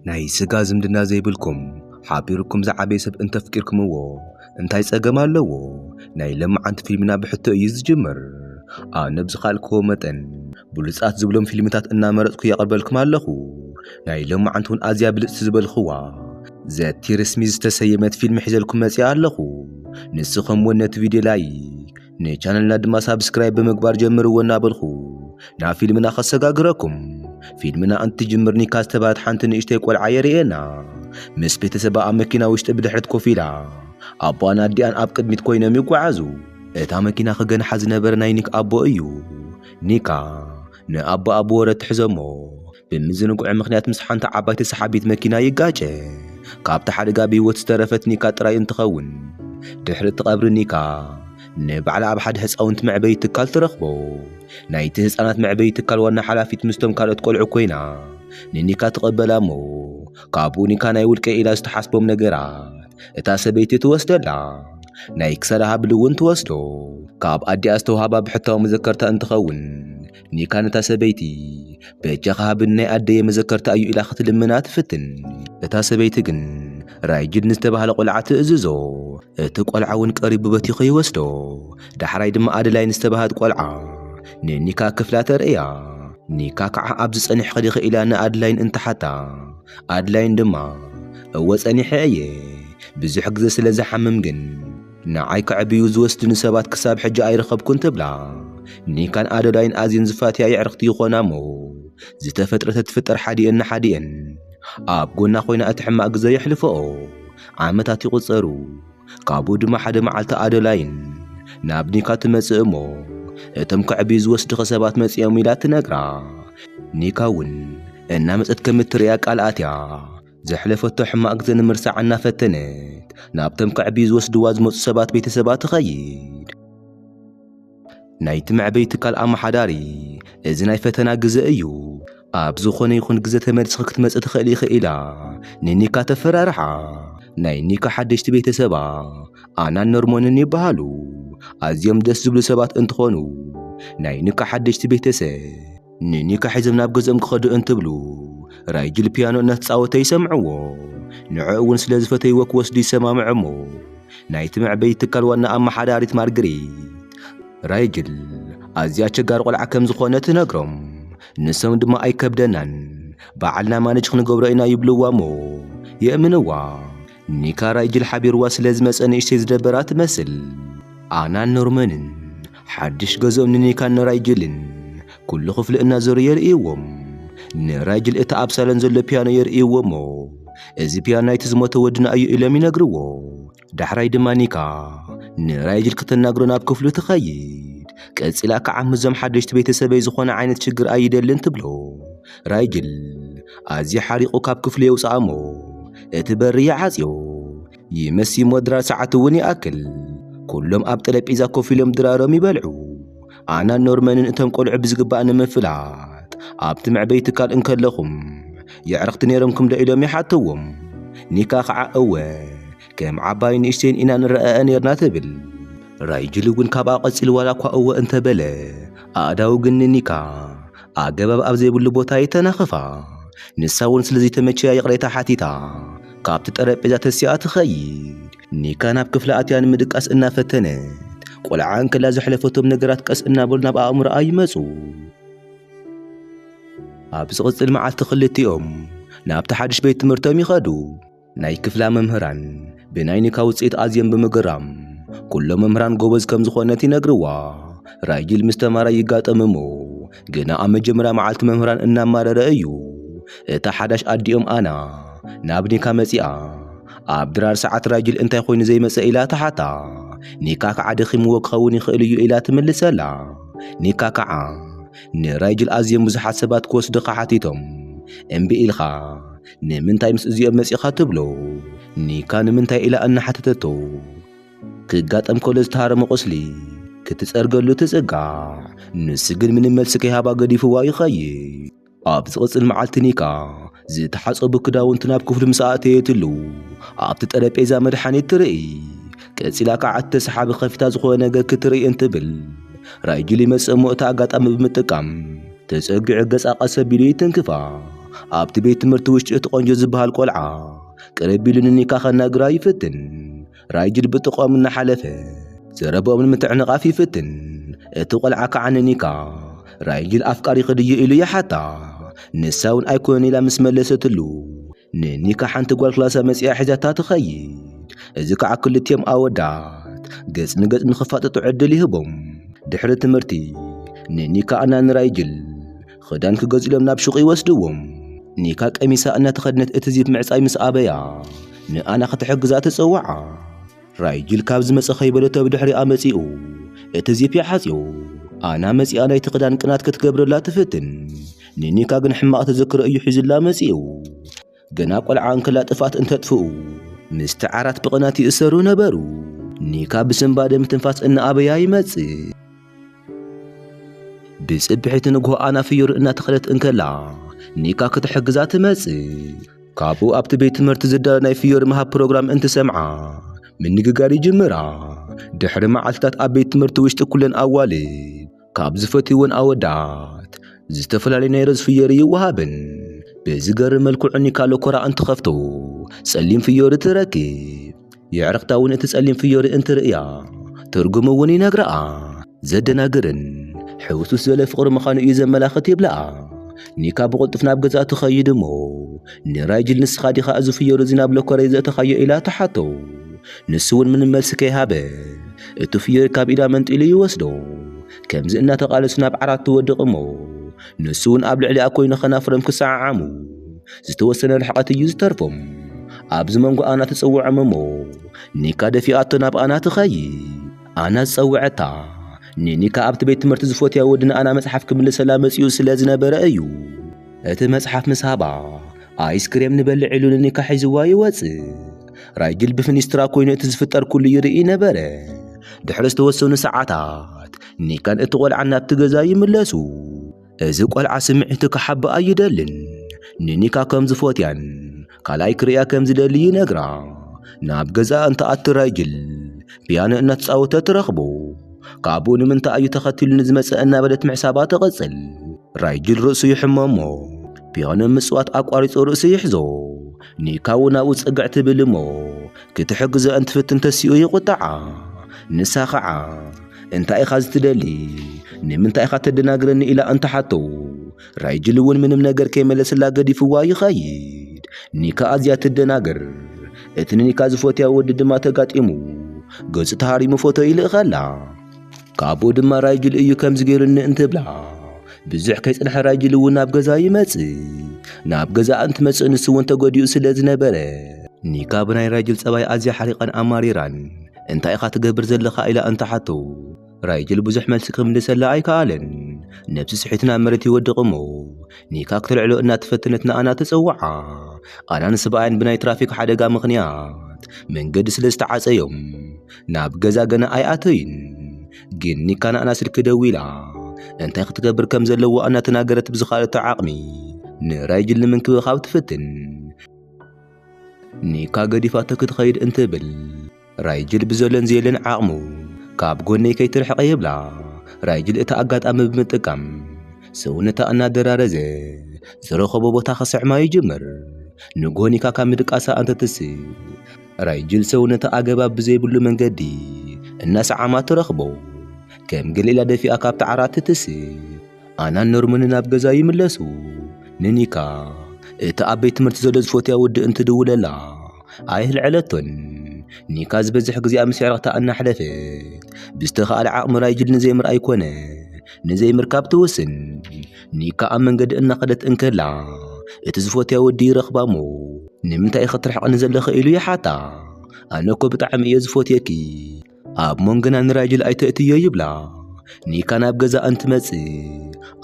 ናይ ስጋ ዝምድና ዘይብልኩም ሓቢርኩም ዝዓበየ ሰብ እንተፍቂርክምዎ እንታይ ጸገም ኣለዎ? ናይ ለማዓንቲ ፊልምና ብሕቶ እዩ ዝጅምር። ኣነ ብዝኻልክዎ መጠን ብሉጻት ዝብሎም ፊልምታት እናመረጽኩ የቕርበልኩም ኣለኹ። ናይ ለማዓንቲ እውን ኣዝያ ብልጽቲ ዝበልኽዋ ዘቲርስሚ ዝተሰየመት ፊልም ሒዘልኩም መጺኣ ኣለኹ። ንስኹም እውን ነቲ ቪድዮ ላይክ ንቻነልና ድማ ሳብስክራይብ ብምግባር ጀምርዎ እናበልኹ ናብ ፊልምና ከሰጋግረኩም። ፊልምና እንትጅምር ኒካ ዝተባህለት ሓንቲ ንእሽተይ ቆልዓ የርእየና። ምስ ቤተሰባ ኣብ መኪና ውሽጢ ብድሕሪት ኮፍ ኢላ ኣቦኣን ኣዲኣን ኣብ ቅድሚት ኮይኖም ይጓዓዙ። እታ መኪና ክገንሓ ዝነበረ ናይ ኒክ ኣቦ እዩ። ኒካ ንኣቦኣ ብወረ ትሕዞ እሞ ብምዝንግዑ ምኽንያት ምስ ሓንቲ ዓባይቲ ሰሓቢት መኪና ይጋጨ። ካብቲ ሓደጋ ብህይወት ዝተረፈት ኒካ ጥራይ እንትኸውን ድሕሪ እቲ ቀብሪ ኒካ ንባዕላ ኣብ ሓደ ህፃውንቲ መዕበዪ ትካል ትረኽቦ። ናይቲ ህፃናት መዕበዪ ትካል ዋና ሓላፊት ምስቶም ካልኦት ቆልዑ ኮይና ንኒካ ትቐበላ እሞ ካብኡ ኒካ ናይ ውልቀ ኢላ ዝተሓስቦም ነገራት እታ ሰበይቲ ትወስደላ። ናይ ክሳዳ ሃብሊ እውን ትወስዶ። ካብ ኣዲኣ ዝተውሃባ ብሕታዊ መዘከርታ እንትኸውን ኒካ ነታ ሰበይቲ በጃኻ ሃብን ናይ ኣደየ መዘከርታ እዩ ኢላ ክትልምና ትፍትን እታ ሰበይቲ ግን ራይጅድ ንዝተባህለ ቆልዓ ትእዝዞ እቲ ቆልዓ እውን ቀሪቡ በቲኹ ይወስዶ ዳሕራይ ድማ ኣደላይ ንዝተባህት ቆልዓ ንኒካ ክፍላ ተርእያ ኒካ ከዓ ኣብ ዝፀኒሕ ኸዲኸ ኢላ ንኣድላይን እንትሓታ ኣድላይን ድማ እወ ፀኒሐ እየ ብዙሕ ግዘ ስለ ዝሓምም ግን ንዓይ ከዕብዩ ዝወስድኒ ሰባት ክሳብ ሕጂ ኣይረኸብኩን ትብላ። ኒካን ኣዶዳይን ኣዝየን ዝፋትያ የዕርኽቲ ይኾና እሞ ዝተፈጥረ ተትፍጠር ሓዲኤን ንሓዲኤን ኣብ ጎና ኮይና እቲ ሕማቕ ግዘ የሕልፈኦ። ዓመታት ይቑጸሩ። ካብኡ ድማ ሓደ መዓልቲ ኣዶላይን ናብ ኒካ ትመጽእ እሞ እቶም ከዕብዩ ዝወስድኺ ሰባት መጺኦም ኢላ ትነግራ። ኒካ እውን እናመጸት ከም እትርእያ ቃል ኣትያ። ዘሕለፈቶ ሕማቕ ግዜ ንምርሳዕ እናፈተነት ናብቶም ከዕብዩ ዝወስድዋ ዝመጹ ሰባት ቤተሰባ ትኸይድ። ናይቲ መዕበዪ ትካል ኣመሓዳሪ እዚ ናይ ፈተና ግዘ እዩ፣ ኣብ ዝኾነ ይኹን ግዘ ተመሊስኺ ክትመጽእ ትኽእሊ ኢኺ ኢላ ንኒካ ተፈራርሓ። ናይ ኒካ ሓደሽቲ ቤተሰባ ኣናን ኖርሞንን ይበሃሉ። ኣዝዮም ደስ ዝብሉ ሰባት እንትኾኑ ናይ ኒካ ሓደሽቲ ቤተሰብ ንኒካ ሒዞም ናብ ገዝኦም ክኸዱ እንትብሉ ራይጅል ፒያኖ እናተጻወተ ይሰምዕዎ። ንዕኡ እውን ስለ ዝፈተይዎ ክወስዱ ይሰማምዑ እሞ ናይቲ መዕበዪ ትካል ዋና ኣመሓዳሪት ማርግሪት ራይጅል ኣዝያ ኣቸጋሪ ቆልዓ ከም ዝኾነ ትነግሮም። ንሶም ድማ ኣይከብደናን ባዕልና ማነጅ ክንገብሮ ኢና ይብልዋ እሞ የእምንዋ። ኒካራይ ጅል ሓቢርዋ ስለ ዝመጸ ንእሽተይ ዝደበራ ትመስል። ኣናን ኖርመንን ሓድሽ ገዝኦም ንኒካን ንራይጅልን ኩሉ ክፍሊ እናዞሩ የርእይዎም። ንራይጅል እቲ ኣብ ሳሎን ዘሎ ፒያኖ የርእይዎ እሞ እዚ ፒያኖ ናይቲ ዝሞተ ወድና እዩ ኢሎም ይነግርዎ። ዳሕራይ ድማ ኒካ ንራይጅል ክተናግሮ ናብ ክፍሉ ትኸይድ። ቀጺላ ክዓ ምስዞም ሓደሽቲ ቤተሰበይ ዝኾነ ዓይነት ሽግር ኣይደልን ትብሎ። ራይጅል ኣዝዩ ሓሪቑ ካብ ክፍሉ የውጽኣ እሞ እቲ በሪ ይዓጽዮ። ይመሲሞ ድራ ሰዓት እውን ይኣክል። ኩሎም ኣብ ጠረጴዛ ኮፍ ኢሎም ድራሮም ይበልዑ። ኣናን ኖርመንን እቶም ቆልዑ ብዝግባእ ንምፍላጥ ኣብቲ መዕበይ ትካል እንከለኹም የዕርኽቲ ነይሮምኩም ዶ ኢሎም ይሓተዎም። ኒካ ኸዓ እወ ከም ዓባይ ንእሽተይን ኢና ንረኣኣ ነይርና ትብል። ራይጅል እውን ካብኣ ቀጺሉ ዋላ እኳ እወ እንተበለ ኣእዳዉ ግን ንኒካ ኣገባብ ኣብ ዘይብሉ ቦታ ይተናኽፋ። ንሳ እውን ስለ ዘይተመቸያ ይቕሬታ ሓቲታ ካብቲ ጠረጴዛ ተሲኣ ትኸይድ። ኒካ ናብ ክፍላ ኣትያ ንምድቃስ እናፈተነት ቆልዓ እንከላ ዘሕለፈቶም ነገራት ቀስ እናበሉ ናብ ኣእምሮኣ ይመጹ። ኣብ ዝቕጽል መዓልቲ ክልቲኦም ናብቲ ሓድሽ ቤት ትምህርቶም ይኸዱ። ናይ ክፍላ መምህራን ብናይ ኒካ ውጽኢት ኣዝዮም ብምግራም ኩሎም መምህራን ጎበዝ ከም ዝኾነት ይነግርዋ። ራይጂል ምስ ተማራይ ይጋጠም እሞ ግና ኣብ መጀመርያ መዓልቲ መምህራን እናማረረ እዩ እታ ሓዳሽ ኣዲኦም ኣና ናብ ኒካ መጺኣ። ኣብ ድራር ሰዓት ራይጂል እንታይ ኮይኑ ዘይመጸ ኢላ ትሓታ። ኒካክ ዓደኺምዎ ክኸውን ይኽእል እዩ ኢላ ትምልሰላ። ኒካ ከዓ ንራይጂል ኣዝዮም ብዙሓት ሰባት ክወስድኻ ሓቲቶም እምቢ ኢልካ። ንምንታይ ምስ እዚኦም መጺኻ ትብሎ? ኒካ ንምንታይ ኢላ እናሓተተቶ ክጋጠም ከሎ ዝተሃረመ ቁስሊ ክትጸርገሉ ትጽጋዕ። ንሱ ግን ምንም መልሲ ከይሃባ ገዲፍዋ ይኸይድ። ኣብ ዝቕጽል መዓልቲ ኒካ ዝተሓጸቡ ክዳውንቲ ናብ ክፍሉ ምስ ኣእተየትሉ ኣብቲ ጠረጴዛ መድሓኒት ትርኢ። ቀጺላ ከኣ እቲ ሰሓቢ ከፊታ ዝኾነ ነገር ክትርኢ እንትብል ራይጁል ይመጽእ እሞ እታ ኣጋጣሚ ብምጥቃም ተጸጊዑ ገጻ ቀስ ኣቢሉ ይትንክፋ። ኣብቲ ቤት ትምህርቲ ውሽጢ እቲ ቆንጆ ዝበሃል ቆልዓ ቅርብ ኢሉ ንኒካ ከናግራ ይፍትን። ራይጁል ብጥቕኦም እናሓለፈ ዘረብኦም ንምትዕንቓፍ ይፍትን። እቲ ቆልዓ ከኣ ንኒካ ራይጁል ኣፍቃሪኺ ድየ ኢሉ ይሓታ። ንሳ እውን ኣይኮነን ኢላ ምስ መለሰትሉ፣ ንኒካ ሓንቲ ጓል ክላሳ መጺኣ ሒዛታ ትኸይድ። እዚ ከዓ ክልቲኦም ኣወዳት ገጽ ንገጽ ንኽፋጠጡ ዕድል ይህቦም። ድሕሪ ትምህርቲ ንኒካ እና ንራይጅል ኽዳን ክገዝእሎም ናብ ሹቕ ይወስድዎም። ኒካ ቀሚሳ እናተኸድነት እቲ ዚፕ ምዕጻይ ምስ ኣበያ ንኣና ክትሕግዛ ትጽውዓ። ራይጅል ካብ ዝመጸ ከይበለቶ ብድሕሪኣ መጺኡ እቲ ዚፕ ሓጺኡ ኣና መጺኣ ናይቲ ክዳን ቅናት ክትገብረላ ትፍትን ንኒካ ግን ሕማቕ ተዘክሮ እዩ ሒዙላ መጺኡ ገና ቆልዓ እንከላ ጥፍኣት እንተጥፍኡ ምስቲ ዓራት ብቕናት ይእሰሩ ነበሩ ኒካ ብስንባደ ምትንፋስ እናኣበያ ይመጽእ ብጽብሒት ንግሆ ኣና ፍዮሪ እናተኸለት እንከላ ኒካ ክትሕግዛ ትመጽእ። ካብኡ ኣብቲ ቤት ትምህርቲ ዝዳሎ ናይ ፍዮሪ ምሃብ ፕሮግራም እንትሰምዓ ምንግጋር ይጅምራ። ድሕሪ መዓልትታት ኣብ ቤት ትምህርቲ ውሽጢ ኩለን ኣዋልድ ካብ ዝፈትይወን ኣወዳት ዝተፈላለዩ ናይ ሮዝ ፍዮሪ ይወሃበን። ብዝገርም መልክዑ ኒካ ሎኮራ እንትኸፍቶ ጸሊም ፍዮሪ ትረክብ። የዕርኽታ እውን እቲ ጸሊም ፍዮሪ እንትርእያ ትርጉሙ እውን ይነግረኣ። ዘደናግርን ሕውስውስ ዝበለ ፍቕሪ ምዃኑ እዩ ዘመላኽት ይብለኣ። ኒካ ብቕልጡፍ ናብ ገዛእ ትኸይድ እሞ ንራይጅል ንስኻ ዲኻ እዚ ፍዮሪ እዚ ናብ ሎከረይ ዘእተኻዮ ኢላ ትሓቶ። ንሱ እውን ምንም መልሲ ከይሃበ እቲ ፍዮሪ ካብ ኢዳ መንጢሉ ይወስዶ። ከምዚ እናተቓለሱ ናብ ዓራት ትወድቕ እሞ ንሱ እውን ኣብ ልዕሊኣ ኮይኑ ከናፍሮም ክሰዓዓሙ ዝተወሰነ ርሕቐት እዩ ዝተርፎም ኣብዚ መንጎ ኣና ትጽውዖም እሞ ኒካ ደፊኣቶ ናብ ኣና ትኸይድ ኣና ዝጸውዐታ ንኒካ ኣብቲ ቤት ትምህርቲ ዝፈትያ ወዲ ንኣና መጽሓፍ ክምልሰላ መጺኡ ስለ ዝነበረ እዩ እቲ መጽሓፍ ምስ ሃባ ኣይስክሬም ንበልዕ ኢሉ ንኒካ ሒዝዋ ይወጽእ ራይግል ብፍኒስትራ ኮይኑ እቲ ዝፍጠር ኩሉ ይርኢ ነበረ ድሕሪ ዝተወሰኑ ሰዓታት ኒካን እቲ ቖልዓን ናብቲ ገዛ ይምለሱ እዚ ቆልዓ ስምዒቱ ክሓብኣ ኣይደልን። ንኒካ ከም ዝፎትያን ካልኣይ ክርእያ ከም ዝደሊ ይነግራ። ናብ ገዛኣ እንትኣቱ ራይጅል ፒያኖ እናተጻወተ ትረኽቦ። ካብኡ ንምንታይ እዩ ተኸቲሉኒ ዝመጸ እናበለት ምሕሳባ ትቕጽል። ራይጅል ርእሱ ይሕመሞ። ፒያኖ ምጽዋት ኣቋሪጹ ርእሱ ይሕዞ። ኒካ እውን ኣብኡ ጽግዕ ትብል እሞ ክትሕግዞ እንትፍትን ተሲኡ ይቝጥዓ። ንሳ ኸዓ እንታይ ኢኻ ዝትደሊ? ንምንታይ ኢኻ ተደናግረኒ? ኢላ እንትሓቶ ራይጅል እውን ምንም ነገር ከይመለስላ ገዲፍዋ ይኸይድ። ኒካ ኣዝያ ትደናገር። እቲ ንኒካ ዝፈትያ ወዲ ድማ ተጋጢሙ ገጹ ተሃሪሙ ፎቶ ይልእኸላ። ካብኡ ድማ ራይጅል እዩ ከምዚ ገይሩኒ እንትብላ ብዙሕ ከይጽንሐ ራይጅል እውን ናብ ገዛ ይመጽእ ናብ ገዛ እንትመጽእ ንሱ እውን ተጎዲኡ ስለ ዝነበረ ኒካ ብናይ ራይጅል ጸባይ ኣዝያ ሓሪቓን ኣማሪራን እንታይ ኢኻ ትገብር ዘለኻ ኢላ እንትሓቶ ራይጅል ብዙሕ መልሲ ክምልሰላ ኣይከኣለን ነብሲ ስሒቱ ናብ መሬት ይወድቕ እሞ ኒካ ክተልዕሎ እናተፈተነት ንኣና ተጸውዓ ኣናን ስብኣያን ብናይ ትራፊክ ሓደጋ ምኽንያት መንገዲ ስለ ዝተዓጸዮም ናብ ገዛ ገና ኣይኣተዩን፣ ግን ኒካና ኣና ስልኪ ደዊላ እንታይ ክትገብር ከም ዘለዎ ኣናተናገረት ብዝኻለቶ ዓቕሚ ንራይጅል ንምንክብኻብ ትፍትን። ኒካ ገዲፋቶ ክትኸይድ እንትብል ራይጅል ብዘሎን ዘየለን ዓቕሙ ካብ ጎነይ ከይትርሕቐ ይብላ። ራይጅል እቲ ኣጋጣሚ ብምጥቃም ሰውነታ እናደራረዘ ዝረኸቦ ቦታ ክስዕማ ይጅምር። ንጎ ኒካ ካብ ምድቃሳ ኣንተትስእ ራይጅል ሰውነታ ኣገባብ ብዘይብሉ መንገዲ እናሰዓማ ትረኽቦ። ከም ገሊላ ደፊኣ ካብቲ ዓራት ትትስእ። ኣናን ኖርመንን ናብ ገዛ ይምለሱ። ንኒካ እቲ ኣብ ቤት ትምህርቲ ዘሎ ዝፈትያ ወዲ እንትድውለላ ኣየልዐለቶን። ኒካ ዝበዝሕ ግዜኣ ምስ ኣዕርኽታ እናሕለፈት ብዝተኻእለ ዓቕሚ ራይጅል ንዘይምርኣይ ኮነ ንዘይምርካብ ትውስን። ኒካ ኣብ መንገዲ እናኸደት እንከላ እቲ ዝፈትያ ወዲ ይረኽባ እሞ ንምንታይ ኢኺ ትርሕቕኒ ዘለኺ ኢሉ ይሓታ። ኣነ እኮ ብጣዕሚ እየ ዝፈትየኪ ኣብ መንጎና ንራጅል ኣይተእትዮ ይብላ። ኒካ ናብ ገዛ እንትመጽእ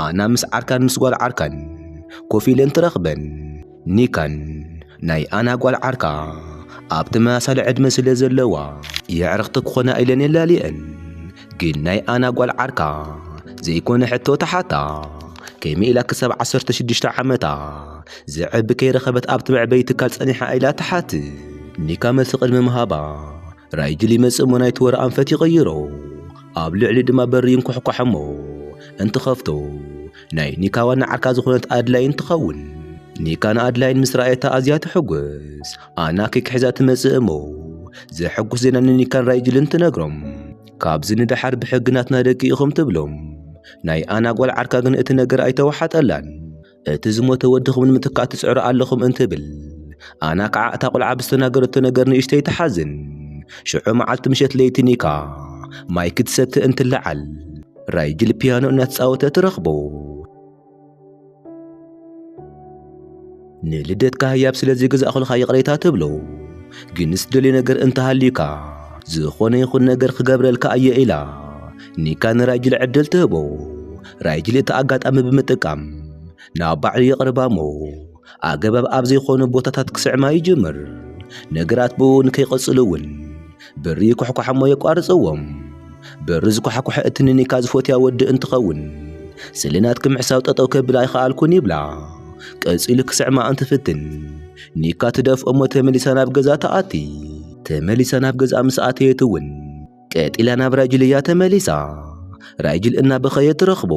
ኣና ምስ ዓርካን ምስ ጓል ዓርካን ኮፍ ኢለን ትረኽበን። ኒካን ናይ ኣና ጓል ዓርካ ኣብ ተመሳሳሊ ዕድመ ስለ ዘለዋ የዕርኽቲ ክኾና ኢለን የላልየን ግን ናይ ኣና ጓል ዓርካ ዘይኮነ ሕቶ ትሓታ ከመይ ኢላ ክሳብ ዓሰርተ ሽዱሽተ ዓመታ ዝዕቢ ከይረኸበት ኣብቲ መዕበዪ ትካል ጸኒሓ ኢላ ትሓትት ኒካ መልሲ ቅድሚ ምሃባ ራእይ ግል ይመጽእ እሞ ናይቲ ወረ ኣንፈት ይቕይሮ ኣብ ልዕሊ ድማ በሪ ይንኳሕኳሕ እሞ እንትኸፍቶ ናይ ኒካ ዋና ዓርካ ዝኾነት ኣድላይን ትኸውን ኒካን ኣድላይን ምስ ረኣየታ ኣዝያ ትሕጉስ ኣና ኬክ ሒዛ ትመጽእ እሞ ዘሐጉስ ዜና ንኒካን ራእይ ግልን ትነግሮም ካብዚ ንደሓር ብሕግናትና ደቂ ኢኹም ትብሎም ናይ ኣና ጓል ዓርካ ግን እቲ ነገር ኣይተዋሓጠላን እቲ ዝሞተ ወድኹም ንምትካእ ትጽዕሩ ኣለኹም እንትብል ኣና ከዓ እታ ቁልዓ ብዝተናገረቶ ነገር ንእሽተይ ትሓዝን ሽዑ መዓልቲ ምሸት ለይቲ ኒካ ማይ ክትሰቲ እንትለዓል ራይጅል ፒያኖ እናተጻወተ ትረኽቦ ንልደትካ ህያብ ስለ ዝገዛእኹልካ ይቕሬታ ትብሎ ግን ዝደልዮ ነገር እንተሃልዩካ ዝኾነ ይኹን ነገር ክገብረልካ እየ ኢላ ኒካ ንራይጅል ዕድል ትህቦ ራይጅሊ እቲ ኣጋጣሚ ብምጥቃም ናብ ባዕሉ የቕርባ እሞ ኣገባብ ኣብ ዘይኮኑ ቦታታት ክስዕማ ይጅምር። ነገራት ብኡ ንከይቐጽሉ እውን ብሪ ይኩሕኳሕ እሞ የቋርጽዎም። ብሪ ዝኳሕኳሐ እቲ ንኒካ ዝፎትያ ወዲ እንትኸውን ስለ ናትኪ ምሕሳው ጠጠው ከብል ኣይኸኣልኩን ይብላ። ቀጺሉ ክስዕማ እንትፍትን ኒካ ትደፍኦ እሞ ተመሊሳ ናብ ገዛ ትኣቲ። ተመሊሳ ናብ ገዝኣ ምስ ኣተየት እውን ቀጺላ ናብ ራጅል እያ ተመሊሳ ራጅል እናበኸየ ትረኽቦ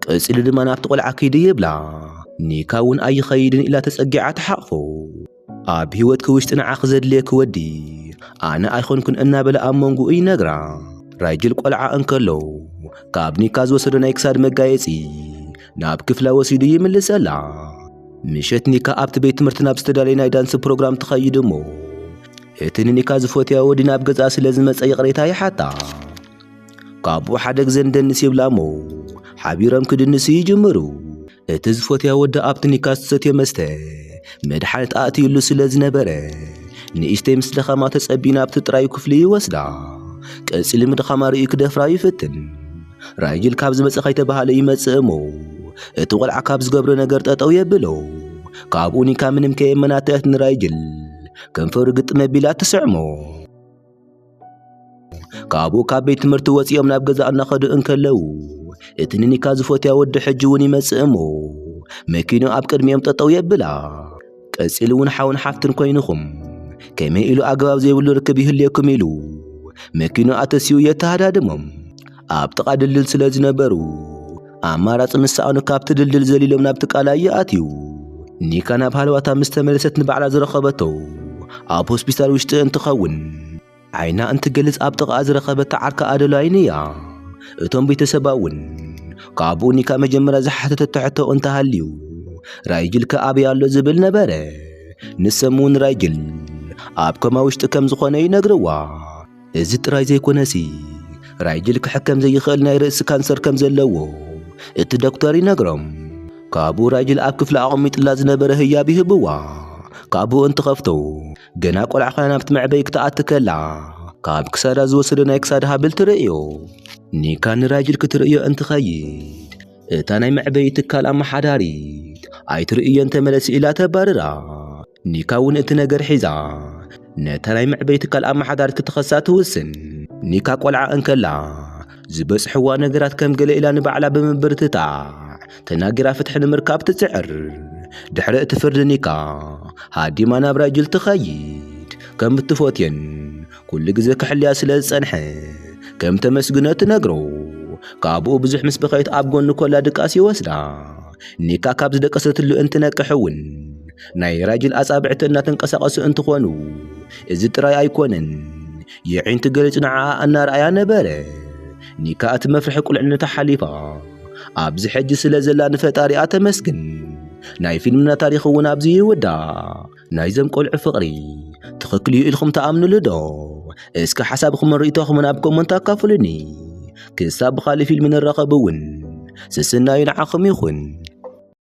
ቀጺሉ ድማ ናብቲ ቆልዓ ክይዲ ይብላ ኒካ እውን ኣይኸይድን ኢላ ተጸጊዓ ትሓቕፎ ኣብ ህይወትኪ ውሽጢ ንዓኺ ዘድልየኪ ወዲ ኣነ ኣይኮንኩን እናበለ ኣብ መንጎኡ ይነግራ ራጅል ቆልዓ እንከሎ ካብ ኒካ ዝወሰዶ ናይ ክሳድ መጋየጺ ናብ ክፍላ ወሲዱ ይምልሰላ ምሸት ኒካ ኣብቲ ቤት ትምህርቲ ናብ ዝተዳለየ ናይ ዳንሲ ፕሮግራም ትኸይድ እሞ እቲ ንኒካ ዝፈትያ ወዲ ናብ ገዛ ስለ ዝመጸ ይቕሬታ ይሓታ ካብኡ ሓደ ግዜ ንደንስ ይብላ እሞ ሓቢሮም ክድንሱ ይጅምሩ እቲ ዝፈትያ ወዲ ኣብቲ ኒካ ዝተሰትዮ መስተ መድሓኒት ኣእትዩሉ ስለ ዝነበረ ንእሽተይ ምስ ድኻማ ተጸቢ ናብቲ ጥራዩ ክፍሊ ይወስዳ ቀጺሉ ምድኻማ ርእዩ ክደፍራ ይፍትን ራይጅል ካብ ዝመጸ ከይተባሃለ ይመጽእ እሞ እቲ ቖልዓ ካብ ዝገብሮ ነገር ጠጠው የብሎ ካብኡ ኒካ ምንም ከየመናተአት ንራይጅል ከንፈሩ ግጥም ኣቢላ ትስዕሞ። ካብኡ ካብ ቤት ትምህርቲ ወፂኦም ናብ ገዛ እናኸዱ እንከለዉ እቲ ንኒካ ዝፈትያ ወዲ ሕጂ እውን ይመጽእ እሞ መኪኑ ኣብ ቅድሚኦም ጠጠው የብላ። ቀጺሉ እውን ሓውን ሓፍትን ኮይንኹም ከመይ ኢሉ ኣገባብ ዘይብሉ ርክብ ይህልየኩም ኢሉ መኪኑ ኣተሲኡ የተሃዳድሞም። ኣብ ጥቓ ድልድል ስለ ዝነበሩ ኣማራጺ ንሰኣኑ ካብቲ ድልድል ዘሊሎም ናብቲ ቃላይ ይኣትዩ። ኒካ ናብ ሃለዋታ ምስ ተመለሰት ንባዕላ ዝረኸበቶ ኣብ ሆስፒታል ውሽጢ እንትኸውን ዓይና እንትገልጽ ኣብ ጥቓኣ ዝረኸበታ ዓርካ ኣደላይን እያ። እቶም ቤተሰባ እውን ካብኡ ኒካ መጀመርያ ዝሓተተቶ ሕቶ እንተሃልዩ ራይጅል ከ ኣበይ ኣሎ ዝብል ነበረ። ንሶም እውን ራይጅል ኣብ ኮማ ውሽጢ ከም ዝኾነ ይነግርዋ። እዚ ጥራይ ዘይኮነሲ ራይጅል ክሕከም ዘይኽእል ናይ ርእሲ ካንሰር ከም ዘለዎ እቲ ዶክተር ይነግሮም። ካብኡ ራይጅል ኣብ ክፍሊ ኣቐሚጥላ ዝነበረ ህያብ ይህብዋ። ካብኡ እንትኸፍቶ ገና ቆልዓ ኮይና ናብቲ መዕበዪ ክትኣቲ ከላ ካብ ክሳዳ ዝወሰዶ ናይ ክሳድ ሃብል ትርእዮ። ኒካ ንራይጅል ክትርእዮ እንትኸይድ እታ ናይ መዕበዪ ትካል ኣመሓዳሪት ኣይትርእዮን ተመለሲ ኢላ ተባርራ። ኒካ እውን እቲ ነገር ሒዛ ነታ ናይ መዕበይ ትካል ኣመሓዳሪት ክትኸሳ ትውስን። ኒካ ቆልዓ እንከላ ዝበጽሕዋ ነገራት ከም ገለ ኢላ ንባዕላ ብምብርትታዕ ተናጊራ ፍትሒ ንምርካብ ትጽዕር። ድሕሪ እቲ ፍርዲ ኒካ ሃዲማ ናብ ራይጅል ትኸይድ። ከም እትፈትዮን ኩሉ ግዜ ክሕልያ ስለ ዝጸንሐ ከም ተመስግኖ ትነግሮ። ካብኡ ብዙሕ ምስ በኸየት ኣብ ጎኑ ኮላ ድቃስ ይወስዳ። ኒካ ካብ ዝደቀሰትሉ እንትነቅሕ እውን ናይ ራጅል ኣጻብዕቲ እናተንቀሳቐሱ እንትኾኑ እዚ ጥራይ ኣይኮነን የዒንቲ ገሊጹ ንዓኣ እናርኣያ ነበረ ኒካ እቲ መፍርሒ ቁልዕነታ ሓሊፋ ኣብዚ ሕጂ ስለ ዘላ ንፈጣሪኣ ተመስግን ናይ ፊልምና ታሪኽ እውን ኣብዚ ይውዳእ ናይዘም ቆልዑ ፍቕሪ ትኽክል እዩ ኢልኩም ተኣምንሉ ዶ እስከ ሓሳብኹምን ርእይቶኹምን ኣብ ኮመንት ኣካፍሉኒ ክሳብ ብኻልእ ፊልም ንራኸብ እውን ስስናዩ ንዓኹም ይኹን